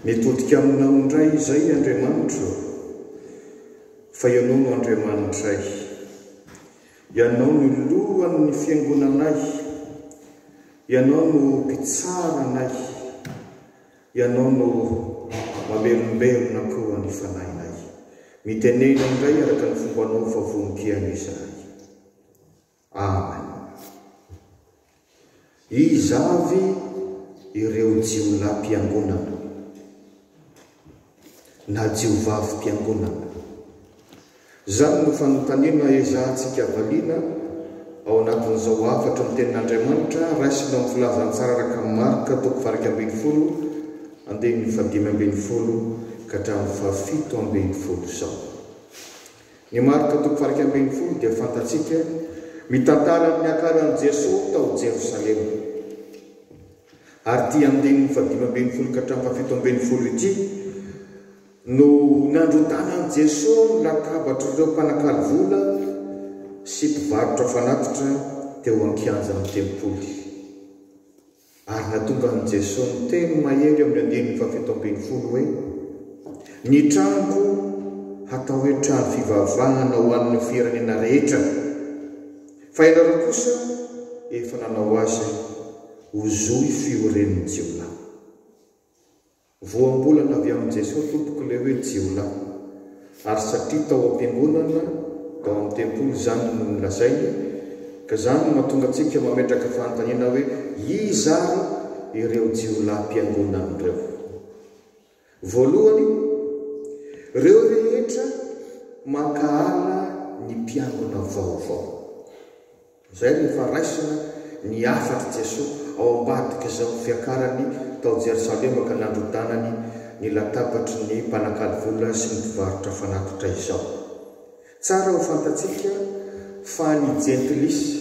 Mitodika aminao indray izay Andriamanitro ô, fa Ianao no Andriamanitray. Ianao no Lohan'ny Fiangonanay, Ianao no Mpitsara anay. Ianao no mamelombelona koa ny fanahinay. Mitenena indray araka ny fombanao fa vonon-kiany izahay. Amen. Iza avy ireo jiolahy mpiangonana? na jiovavim-piangonana. Izany no fanontaniana ezahantsika valiana ao anatin'izao hafatry ny Tenin'Andriamanitra raisina ao amin'ny Filazantsara araka an'i Marka, toko fahairaika ambin'ny folo, andininy fahadimy ambin'ny folo ka hatramin'ny fahafito ambin'ny folo izao. Ny Marka, toko fahairaika ambin'ny folo, dia fantatsika, mitantara ny niakaran'i Jesoa tao Jerosalema. Ary ity andininy fahadimy ambin'ny folo ka hatramin'ny fahafito ambin'ny folo ity no nandrodanan'i Jesoa ny latabatr'ireo mpanakalo vola sy mpivarotra fanatitra teo an-kianjan'ny tempoly. Ary natongan'i Jesoa niteny mahery eo amin'ny andininy fahafito ambin'ny folo hoe, Ny tranoko hatao hoe trano fivavahana ho an'ny firenena rehetra. Fa ianareo kosa efa nanao azy ho zohy fioren'ny jiolahy. Voambolana avy amin'i Jesoa tompoko ilay hoe jiolahy, ary satria tao am-piangonana, tao amin'ny tempoly izany no nolazainy, ka izany no mahatonga antsika mametraka fanontaniana hoe iza ary ireo jiolahim-piangonana ireo? Voalohany, reo rehetra mankahala ny mpiangona vaovao. Zay rehefa raisina ny hafatry Jesoa ao ambadik'izao fiakarany tao Jerosalema ka nandrodanany ny latabatry ny mpanakalo vola sy ny mpivarotra fanatitra izao. Tsara ho fantatsika fa ny Jentilisa,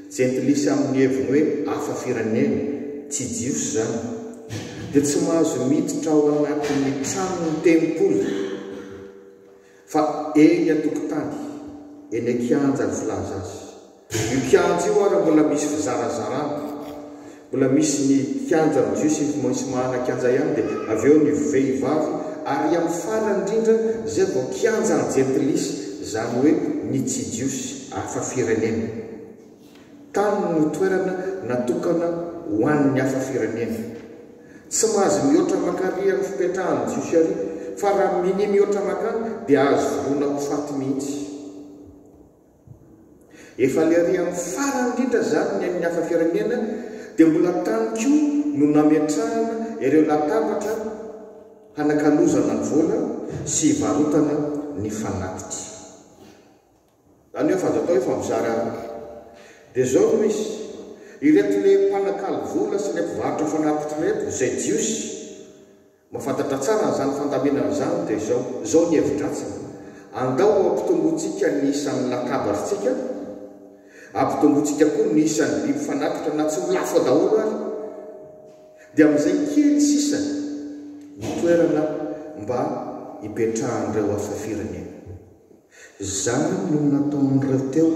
Jentilisa amin'ny heviny hoe hafa firenena, tsy Jiosy izany, dia tsy mahazo miditra ao anatin'ny tranon'ny tempoly, fa eny an-tokotany, eny an-kianja filaza azy. Io kianja io ary mbola misy fizarazarana. Mbola misy ny kianja amin'ny jeu sy ny maintsy mahana kianja ihany dia avy eo ny vehivavy ary amin'ny farany indrindra izay vao kianja an-jentilisa izany hoe ny tsy jiosy hafa firenena. Tany no toerana natokana ho an'ny hafa firenena. Tsy mahazo mihoatra maka ary amin'ny fipetrahan'ny jiosy ary fa raha minia mihoatra makany dia azo voroana ho faty mihitsy. Efa le ry amin'ny farany indrindra izany ny an'ny hafa firenena dia mbola tany koa no nametrahana ireo latabatra hanakalozana ny vola sy hivarotana ny fanatitra. Izany hoe fa azo atao hoe fa mizara roa. Dia izao no izy, ireto le mpanakalo vola sy le mpivarotra fanatitra ireto, izay jiosy, Mahafantatra tsara an'izany fandaminana izany dia izao, izao ny hevi-dratsiny, Andao hampitombointsika ny isan'ny lakabarintsika, hampitombointsika koa ny isan'ny biby fanatitra na tsy ho lafo daholo ary, dia amin'izay kely sisa ny toerana mba hipetrahan'ireo hafa firenena. Zany no nataon'ireo teo,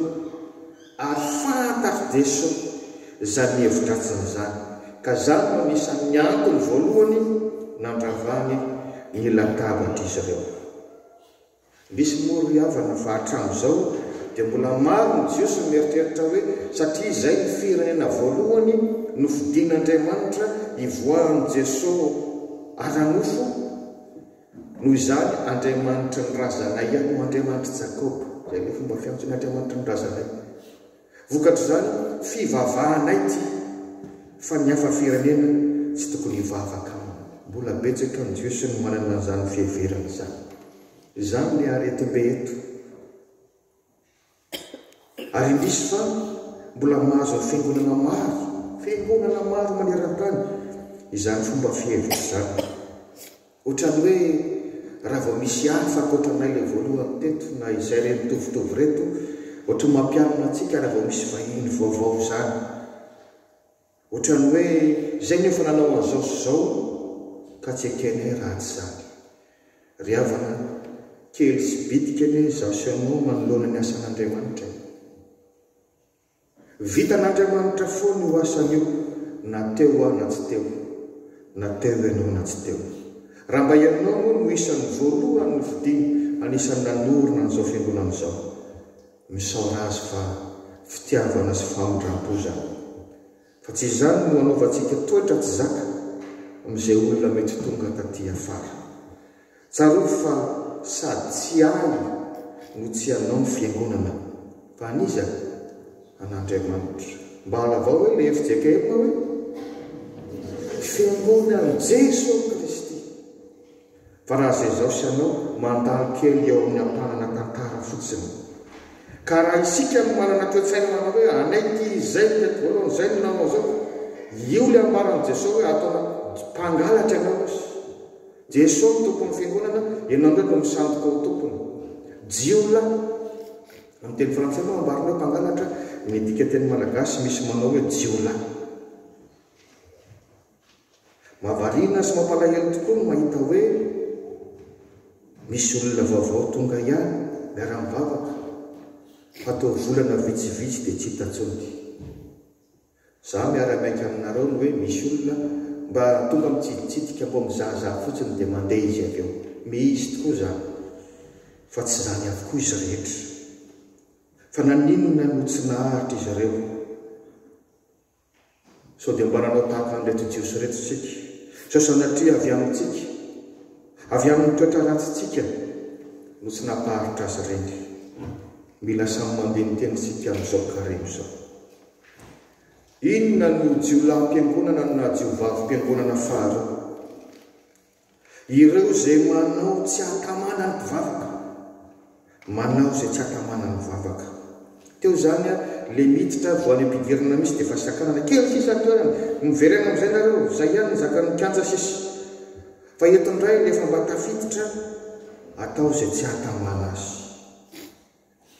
ary fantatry Jeso zany hevi-dratsiny zany, ka zany no anisan'ny antony voalohany nandravany ny latabatr'izireo. Misy moa ry havana fa hatramizao dia mbola maro ny Jiosy mieritreritra hoe satria zay ny firenena voalohany nofidin'Andriamanitra hivoahan'i Jeso ara-nofo, Noho izany, Andriamanitry ny razanay ihany no Andriamanitr'i Jakoba. Izay no fomba fiantsoan'ny Andriamanitry ny razanay. Vokatr'izany, fivavahanay ity, fa ny hafa firenena tsy tokony hivavaka aminy. Mbola betsaka ny Jiosy no manana izany fiheverana izany. Izany ilay aretim-be eto. Ary indrisy izany, mbola mahazo ny fiangonana maro, fiangonana maro maneran-tany, izany fomba fihevitra izany. Ohatran'ny hoe raha vao misy hafa ankoatra anay ilay voalohany teto, na izay re mitovitovy ireto, ohatran'ny mampialona antsika raha vao misy vahiny vaovao izany. Ohatran'ny hoe izay no efa nanao an'izao sy izao ka tsy ekenay raha tsy izany. Ry havana, kely sy bitika anie izaho sy ianao manoloana ny asan'Andriamanitra e! Vitan'Andriamanitra foana io asany io na teo aho na tsy teo, na teo ianao na tsy teo. Raha mba ianao moa no isan'ny voalohany nofidiny anisan'ny nanorina an'izao fiangonana izao, Misaora azy fa fitiavana sy famindrampo izany. Fa tsy izany no hanaovantsika toetra tsy zaka amin'izay olona mety tonga taty afara. Tsarovy fa sady tsy ahy no tsy anao ny fiangonana fa an'iza? An'Andriamanitra. Mba alavao hoe ilay fjkm hoe, Fiangonan'i Jesoa Kristy. Fa raha izay izao sy anao mandalo kely eo amin'ny ampanana tantara fotsiny. Ka raha isika no manana toetsaina manao hoe anay ity izy izay no tety voalohany, izay no nanao izao. Io ilay ambaran'i Jesoa hoe ataonao mpangalatra ianao izy. Jesoa no tompon'ny fiangonana, ianao indray no misandoka ho tompony. Jiolahy. Amin'ny teny frantsay moa ambarina hoe mpangalatra, ny dika teny malagasy misy manao hoe jiolahy. Mahavariana sy mampalahelo tokoa ny mahita hoe misy olona vaovao tonga ihany miara-mivavaka fa toa volana vitsivitsy dia tsy hita intsony. Za miara-miaika aminareo ny hoe misy olona mba tonga mitsiditsidika mbô mizahazaha fotsiny dia mandeha izy avy eo. Mihisy tokoa zany fa tsy zany avokoa izy rehetra. Fa naninona no tsy naharitra izy ireo? Sao dia mba nanao tahaka an'ireto Jiosy ireto isika? Sao sanatria avy amintsika, avy amin'ny toetra ratsintsika no tsy nampaharitra azy ireny? Mila samy mandini-tena isika amin'izao karemy izao. Inona no jiolahim-piangonana no naha-jiovavi-piangonana faharoa? Ireo izay manao tsy hatamana ny mpivavaka, manao izay tsy hatamana ny vavaka. Teo izany a, le miditra voan'ny ampidirana misy dia efa sakanana, kely sisa ny toerana, miverena amin'izay nareo, zay ihany ny zakan'ny kianja sisa. Fa eto indray rehefa mba tafiditra, atao izay tsy hatamana azy.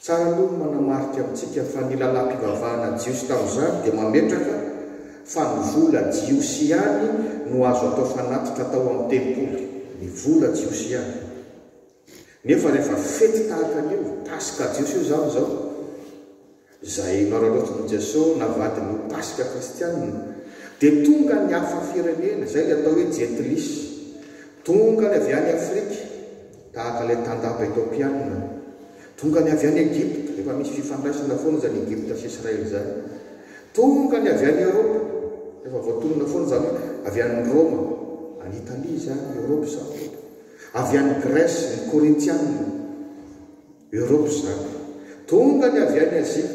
Tsara aloha ny manamarika amintsika fa ny lalam-pivavahana jiosy tamin'izany dia mametraka fa ny vola jiosy ihany no azo atao fanatitra atao amin'ny tempoly, ny vola jiosy ihany. Nefa rehefa fety tahaka an'io, Paska jiosy io izany izao, izay noararaotin'i Jeso navadiny ho Paska kristianina, dia tonga ny hafa firenena, izay ilay atao hoe Jentilisy, tonga ny avy any Afrika, Tahaka ilay tandapa Etopiana tongany avy any Egypta, efa misy fifandraisana foana izany Egypta sy Israely izany. Tongany avy any Eoropa, efa voatonona foana izany hoe avy any Roma, any Italia izany, Eoropa izany tompoko. Avy any Grèce, ny Korintiana, Eoropa izany. Tongany avy any Azia,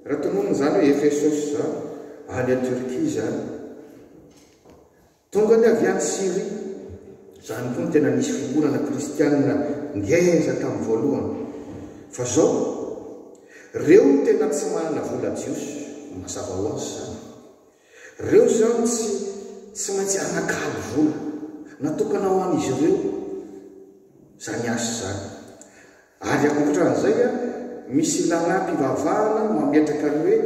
raha tononina izany hoe Efesosy izany, any Turquie izany. Tonga ny avy any Syria. Izany koa no tena nisy fiombonana kristianina ngeza tamin'ny voalohany. Fa izao? Reo no tena tsy manana vola jiosy. Mazava ho azy izany. Reo izany tsy tsy maintsy hanakalo vola natokana ho an'izy ireo izany asa izany. Ary ankotran'izay, misy lalam-pivavahana mametraka ny hoe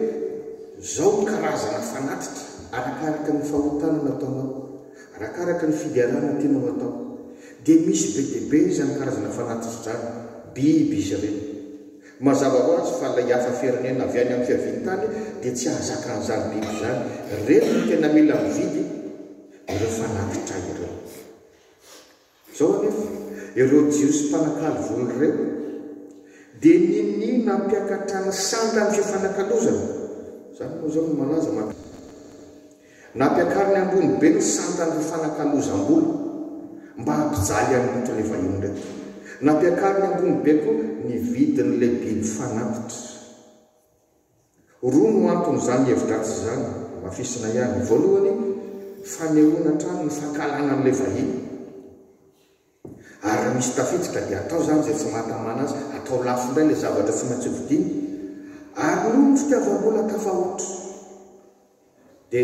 izao ny karazana fanatitra arakaraka ny fahotana nataonao, arakaraka ny fiderana tianao hatao. Dia misy be dia be izany karazana fanatitra izany, biby izy ireny. Mazava ho azy fa ilay hafa firenena avy any amin'ny fiavian-tany dia tsy hahazaka an'izany biby izany. Ireny no tena mila mividy ireo fanatitra ireo. Izao anefa, ireo Jiosy mpanakalo vono ireo dia ninia nampiakatra ny sandany fifanakalozana, izany moa izao no malaza mankany Roma. Nampiakariny ambony be ny sandany fifanakalozam-bola mba hampijaly an'i Lotra ilay vahiny ireto. Nampiakariny ambony be koa ny vidin'ilay biby fanatitra. Roa no anton'izany hevi-dratsy izany, hamafisina ihany. Voalohany, fanehoana hatrany ny fankahalana an'ilay vahiny. Ary raha misy tafiditra ka dia atao izany izay tsy mahatamana azy, atao lafo indray ilay zavatra tsy maintsy hovidiana. Ary noho ny fitiavam-bola tafahoatra, Dia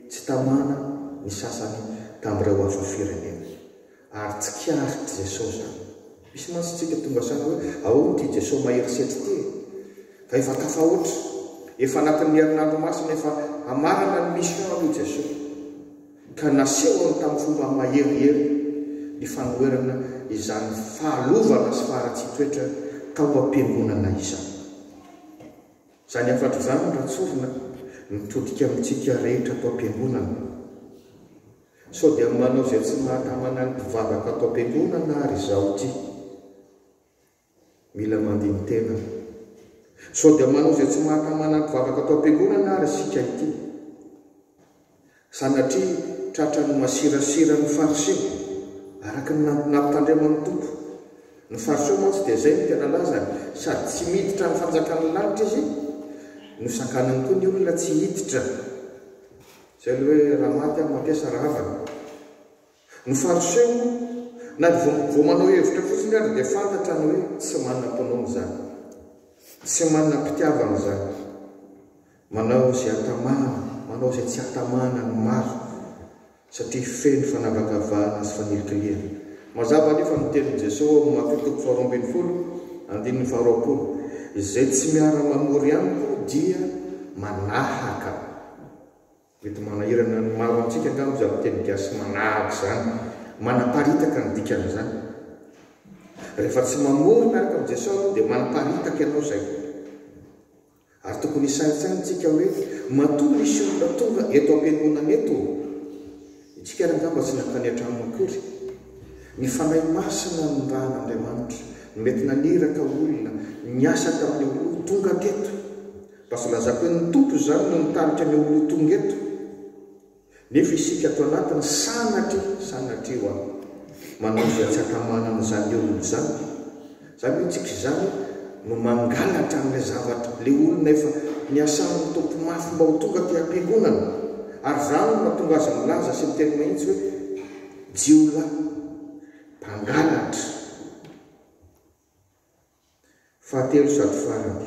tsy tamana ny sasany tamin'ireo Afo-firenena. Ary tsikaritr'i Jesosy izany. Misy mantsy isika tonga saina hoe, Ahoana ity Jesosy mahery setra ity e? Fa efa tafahoatra. Efa anatin'ny herinandro masina efa hamarana ny mission aloha i Jesosy. Ka nasehony tamin'ny fomba maherihery ny fanoherana izany fahalovana sy faharatsian-toetra tao am-piangonana izany. Izany hafatra izany raha tsorina mitodika amintsika rehetra ato am-piangonana. Sao dia manao izay tsy mahatamana ny mpivavaka ato am-piangonana ary izaho ity. Mila mandini-tena. Sao dia manao izay tsy mahatamana ny mpivavaka ato am-piangonana ary isika ity. Sanatria tratran'ny masirasira ny Fariseo, araka ny nampitandreman'ny Tompo. Ny Fariseo mantsy dia izay no tena lazany, sady tsy miditra ny fanjakan'ny lanitra izy, no sakanany koa ny olona tsy hiditra. Izay ilay hoe raha maty aho, matesa rahavana. Ny Fariseo, na dia vao manao hevitra fotsiny aza, dia fantatrany hoe tsy manam-pinoana izany, tsy manam-pitiavana izany. Manao izay hatamahana, manao izay tsy hatamahana ny mariko, satria feno fanavakavahana sy fanilikilihana. Mazava anefa ny tenin'i Jesoa ao amin'ny Matiho toko faharoa ambin'ny folo, andininy faharoapolo, Izay tsy miara-mamory amiko dia manahaka. Mety manahirana ny maro amintsika angamba izany teny gasy manahaka izany. Manaparitaka ny dikan'izany. Rehefa tsy mamory miaraka amin'i Jesoa ianao dia manaparitaka ianao izay. Ary tokony hisaintsaina tsika hoe matoa misy olona tonga eto ampiangonana eto ô! Itsika ary angamba tsy nankany antrano akory. Ny Fanahy Masina no nirahan' Andriamanitra no mety naniraka olona niasa tamin'ny oloa tonga teto. Mba tsy lazako hoe ny Tompo izany no nitarika ny oloa tonga eto. Nefa isika ato anatiny sanatria, sanatria hoa, manao izay tsy hatamanana izany olona izany. Izany hoe tsika izany no mangalatra an'ilay zavatra, ilay olona efa niasan'ny Tompo mafy mba ho tonga aty am-piangonana. Ary izany no mahatonga azy milaza sy miteny mahitsy hoe, Jiolahy mpangalatra. Fahatelo sady farany,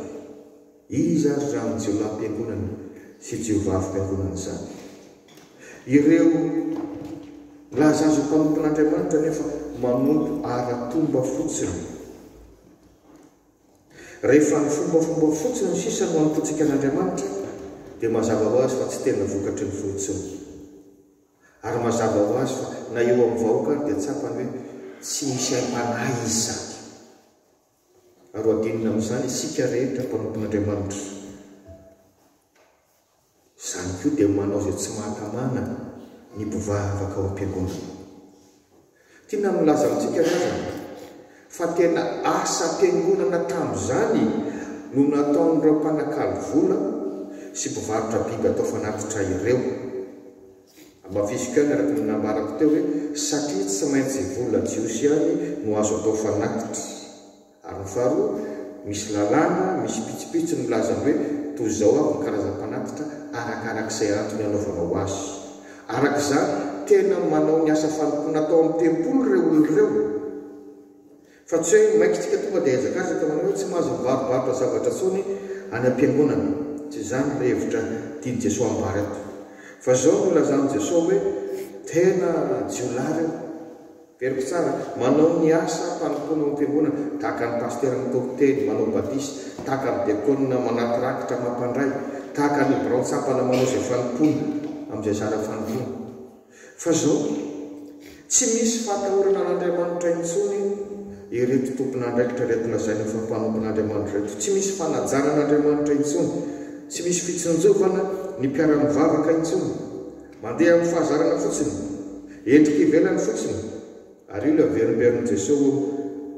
iza àry izany jiolahim-piangonana sy jiovavim-piangonana izany? Ireo milaza azy ho mpanompon'Andriamanitra nefa manompo ara-pomba fotsiny. Rehefa ny fombafomba fotsiny sisa no anompontsika an'Andriamanitra, dia mazava ho azy fa tsy tena vokatry ny finotsiny. Ary mazava ho azy fa na eo amin'ny vahoaka ary dia tsapany hoe tsy misy aim-panahy izy sady. Ary ho adinina amin'izany isika rehetra mpanompon'Andriamanitra. Izany koa dia manao izay tsy mahatamana ny mpivavaka ao am-piangonana. Tiana milaza amintsika ve izany fa tena asam-piangonana tamin'izany no nataon'ireo mpanakalo vola sy mpivarotra biby atao fanatitra ireo? Amafisiko ihany araka ny nambarako teo hoe satria tsy maintsy vola jiosy ihany no azo atao fanatitra. Ary ny faharoa, misy lalàna, misy pitsipitsy milaza hoe toy izao avy ny karazam-panatitra arakarak'izay antony anaovanao azy. Araka izany, tena manao ny asa fanompoana atao amin'ny tempoly ireo olona ireo. Fa tsy hoe mainka isika tonga dia hiazakazaka manao hoe tsy mahazo mibarobarotra zavatra intsony any am-piangonana. Tsy izany ilay hevitra tian'i Jesoa ambara eto. Fa izao no ilazan'i Jesoa hoe tena jiolahy ireo. Very mpitsara, manao ny asa fanompoana ao amin'ny fiangonana, tahaka ny pasitera mitory teny, manao batisa, tahaka ny diakona manaty rakitra mampandray, tahaka ny birao tsapana manao izay fanompoana amin'izay zara fanompoana. Fa izao, tsy misy fahatahorana an'Andriamanitra intsony ireto tompon'andraikitra ireto lazaina fa mpanompon'Andriamanitra ireto. Tsy misy fanajana an'Andriamanitra intsony. Tsy misy fitsinjovana ny mpiara-mivavaka intsony. Mandeha amin'ny fahazarana fotsiny, endrika ivelany fotsiny, ary io ilay averimberin'i Jesoa eo,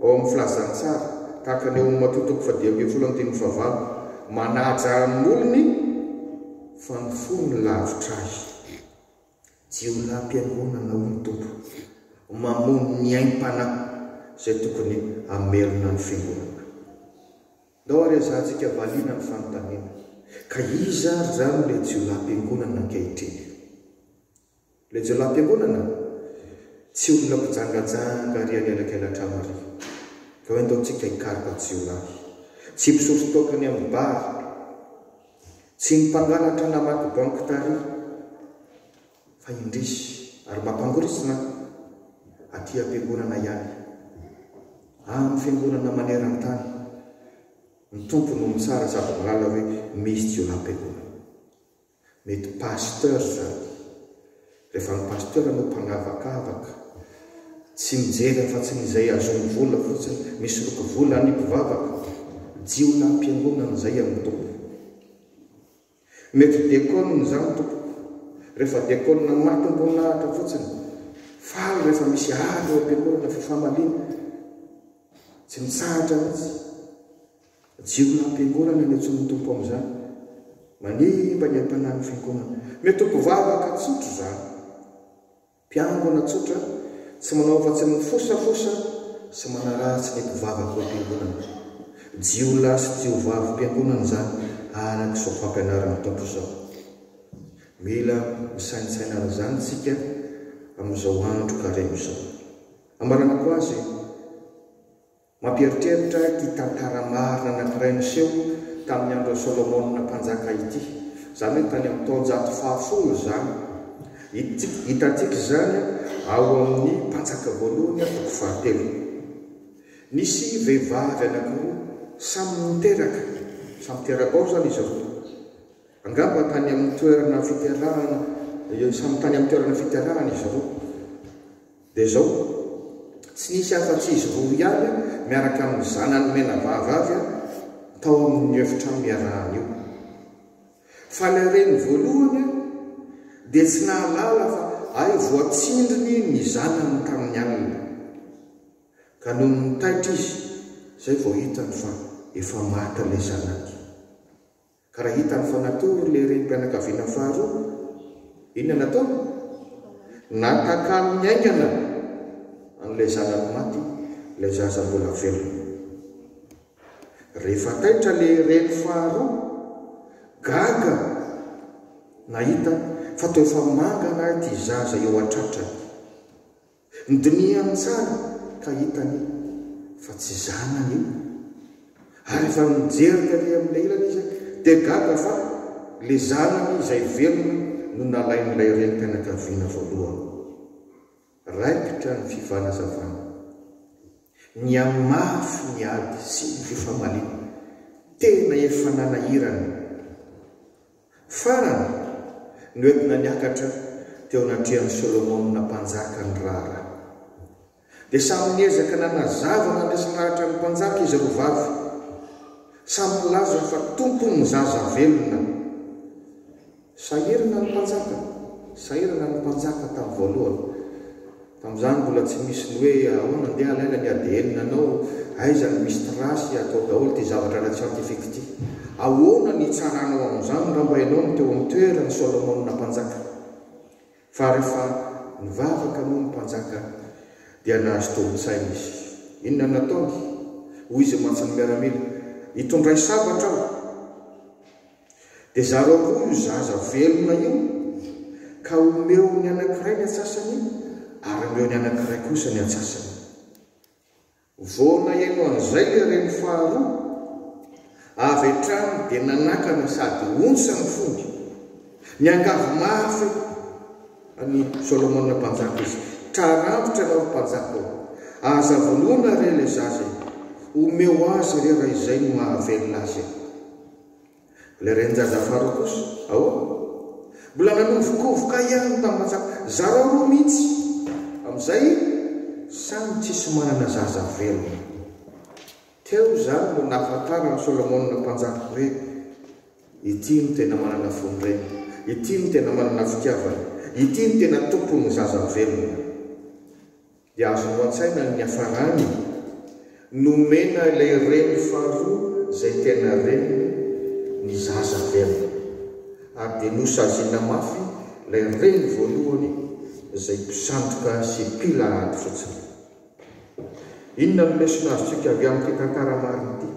ao amin'ny Filazantsara, tahaka ny ao amin'ny Matoa toko fahadimy ambin'ny folo andininy fahavalo, manaja amin'ny olony fa ny fony lavitra ahy. Jiolahim-piangonana hoy ny Tompo, mamono ny aim-panahy izay tokony hamelona ny Fiangonana. Ndao ary hazahantsika valiana ny fanontaniana, ka iza ary izany ilay jiolahim-piangonana ankehitriny? Ilay jiolahim-piangonana? Tsy olona mpijangajanga ary an'elakela trano àry. Ka hoe ndao tsika hikaroka jiolahy, tsy mpisotro toaka any amin'ny bar, tsy ny mpangalatra namaky banky tary, Fa indrisy ary mba mpangoritsina aty am-piangonana ihany. Amin'ny fiangonana maneran-tany, ny Tompo no mitsara sady milalao hoe misy jiolahim-piangonana. Mety pasteur izany. Rehefa ny pasteur no mpanavakavaka, tsy mijery afa-tsy ny izay azony vola fotsiny, misoloky vola ny mpivavaka, jiolahim-piangonana izay amin'ny Tompo. Mety diakonina izany tompoko. Rehefa diakonina matombon'ahitra fotsiny. Faly rehefa misy azo eo am-piangonana fifamaliana. Tsy mitsahatra mihitsy. Jiolona am-piangonana ny antsoin'ny Tompo amin'izany. Manimba ny am-panahin'ny fiangonana. Mety ho mpivavaka tsotra izany. Mpiangona tsotra, tsy manao afa-tsy ny mifosafosa sy manaratsy ny mpivavaka ao am-piangonana. Jiolahy sy jiovavim-piangonana izany araka izao fampianarana ataoko izao. Mila misaintsaina araka izany isika amin'izao andro karemy izao. Ambaranako azy Mampieritreritra ity tantara marina anankiray niseho tamin'ny andron'i Solomona Mpanjaka ity, izany hoe tany amin'ny taonjato fahafolo izany. Hitantsika hitantsika izany ao amin'ny Mpanjaka voalohany toko fahatelo. Nisy vehivavy anankiroa samy niteraka, samy teraka ao izany izy roa. Angamba tany amin'ny toerana fiterahana, samy tany amin'ny toerana fiterahana izy roa. Dia izao, tsy nisy afa-tsy izy roa ihany miaraka amin'ny zanany menavavy tao amin'io efitrano iarahana io. Fa ilay reny voalohany dia tsy nahalala fa hay voatsindriny ny zanany tamin'ny alina. Ka nony nitaitra izy izay vao hitany fa efa maty ilay zanany. Ka raha hitany fa natory ilay renim-pianakaviana faharoa, inona no ataony? Natakalony haingana an'ilay zanany maty ilay zaza mbola velona. Rehefa taitra ilay reny faharoa, gaga nahita fa toa efa mangana ity zaza eo an-tratrany. Nidinihany tsara ka hitany fa tsy zanany io. Ary efa nijery taty amin'ilay ilany izy dia gaga fa ilay zanany izay velona no nalain'ilay renim-pianakaviana voalohany. Raikitra ny fifanazavana. Nihamafy ny ady sy ny fifamaliana. Tena efa nanahirana Farany, noentina niakatra teo anatrehan'i Solomona mpanjaka ny raharaha. Dia samy niezaka nanazava nandresy lahatra ny mpanjaka izy roa vavy. Samy nilaza fa tompony ny zaza velona. Sahirana ny mpanjaka. Sahirana ny mpanjaka tamin'ny voalohany. Tamin'izany mbola tsy misy ny hoe ahoana andeha alaina ny ADN anao, aiza no misy trace, atao daholo ity zavatra ara tsiantifika ity. Ahoana ny hitsaranao amin'izany raha mba ianao no teo amin'ny toeran'i Solomona mpanjaka? Fa rehefa nivavaka moa ny mpanjaka dia nahazo tobin-tsaina izy. Inona no nataony? Hoy izy mantsy ny miaramila, Hitondray sabatra aho. Dia zarao koa io zaza velona io ka omeo ny anankiray ny antsasany ary omeo ny anankiray kosa ny antsasany. Vao naheno an'izay ilay reny faharoa, avy hatrany dia nanakana sady ontsa ny fony. Niangavy mafy an'i Solomona mpanjaka izy, Tarantotra ianao ry mpanjaka ô! Aza vonoina re ilay zaza e! Omeo azy re raha izay no mahavelona azy e! Ilay renin-jaza faharoa kosa, ahoana? Mbola nanovokovoka ihany ny tamantsaka. Zarao roa mihitsy amin'izay samy tsisy manana zaza velona. Teo izany no nahafantaran'i Solomona Mpanjaka hoe ity no tena manana fon-dreny, ity no tena manana fitiavana, ity no tena tompon'ny zaza velona. Dia azonao an-tsaina ny niafarany? Nomena ilay reny faharoa izay tena reniny ny zaza averiny. Ary dia nosaziana mafy ilay reny voalohany izay mpisandoka sy mpila ady fotsiny. Inona no lesona azontsika avy amin'ity tantara marina ity?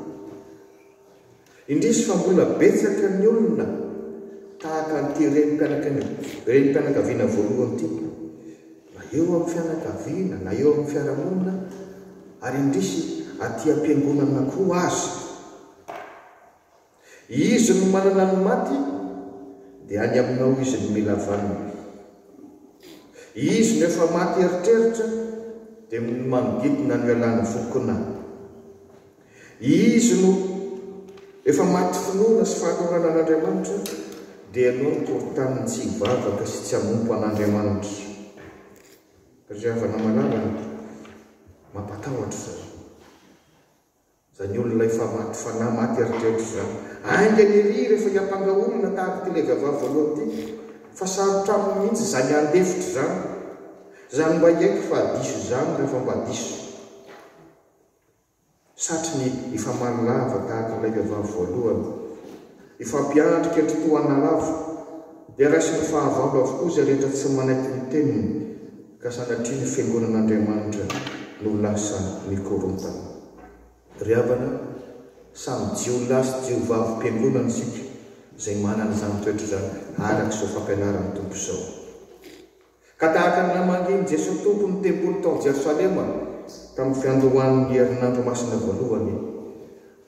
Indrisy fa mbola betsaka ny olona tahaka an'ity renim-pianakaviana voalohany ity, na eo amin'ny fianakaviana na eo amin'ny fiarahamonina ary indrisy aty am-piangonana koa aza. Izy no manana ny maty dia any aminao izy no mila vaniny. Izy no efa maty eritreritra dia manodidina no ialany vokona. Izy no efa maty finoana sy fahatorana an'Andriamanitra, dia ianao no toritany ny tsy hivavaka sy tsy hanompo an'Andriamanitra. Ry havana malalany, mampatahotra izany. Izany olona efa maty fanahy, maty eritreritra izany. Haingana ery rehefa hiampanga olona tahaka ity ilay vehivavy voalohany ity, fa sarotra aminy mihitsy izany handefitra izany. Izany mba hiaiky fa diso izany rehefa mba diso. satry ny hifamaly lava tahaka ilay vehivavy voalohany. Hifampiahantra kendry toa anà lava, dia raisin'ny fahavalo avokoa izay rehetra tsy manaiky ny teniny, ka sanatria ny fiangonan'Andriamanitra no lasa mikorontana. Ry havana, samy jiolahy sy jiovavim-piangonana isika izay manana izany toetra izany, araka izao fampianaran'ny Tompo izao. Ka tahaka ny namangian'i Jesoa Tompo ny tempoly tao Jerosalema tamin'ny fiandohan'ny herinandro masina voalohany,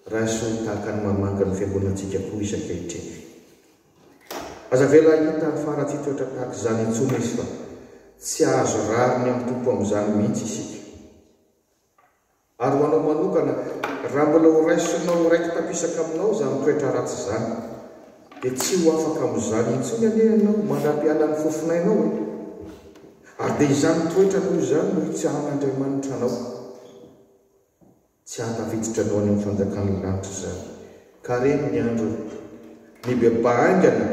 raiso tahaka ny mamangy ny fiangonantsika koa izy ankehitriny. Aza avela hahita hafara tsy toetra tahaka izany intsony izy fa tsy azo rariny amin'ny Tompo amin'izany mihitsy isika. Ary ho anao manokana, raha mbola horaisinao ho raiki-tapisaka aminao izany toetra ratsy izany, dia tsy ho afaka amin'izany intsony anie ianao mandra-piala ny fofonainao e! Ary dia izany toetra toy izany no hitsahan'Andriamanitra anao. Tsy hahatafiditra anao any amin'ny fanjakan'ny lanitra izany. Ka re ny andro nibebahaingana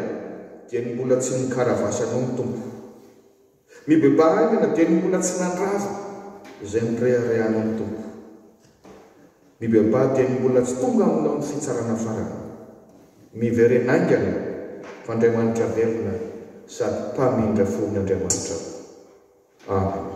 dia ny mbola tsy nikaravasy anao ny Tompo. Mibebaha ahy na dia ny mbola tsy nandrava izay nireharehana ny Tompo. Mibebaha dia ny mbola tsy tonga aminao ny fitsarana farany. Miverena aingana fa Andriamanitra velona sady Mpamindra fon'Andriamanitra. Amen.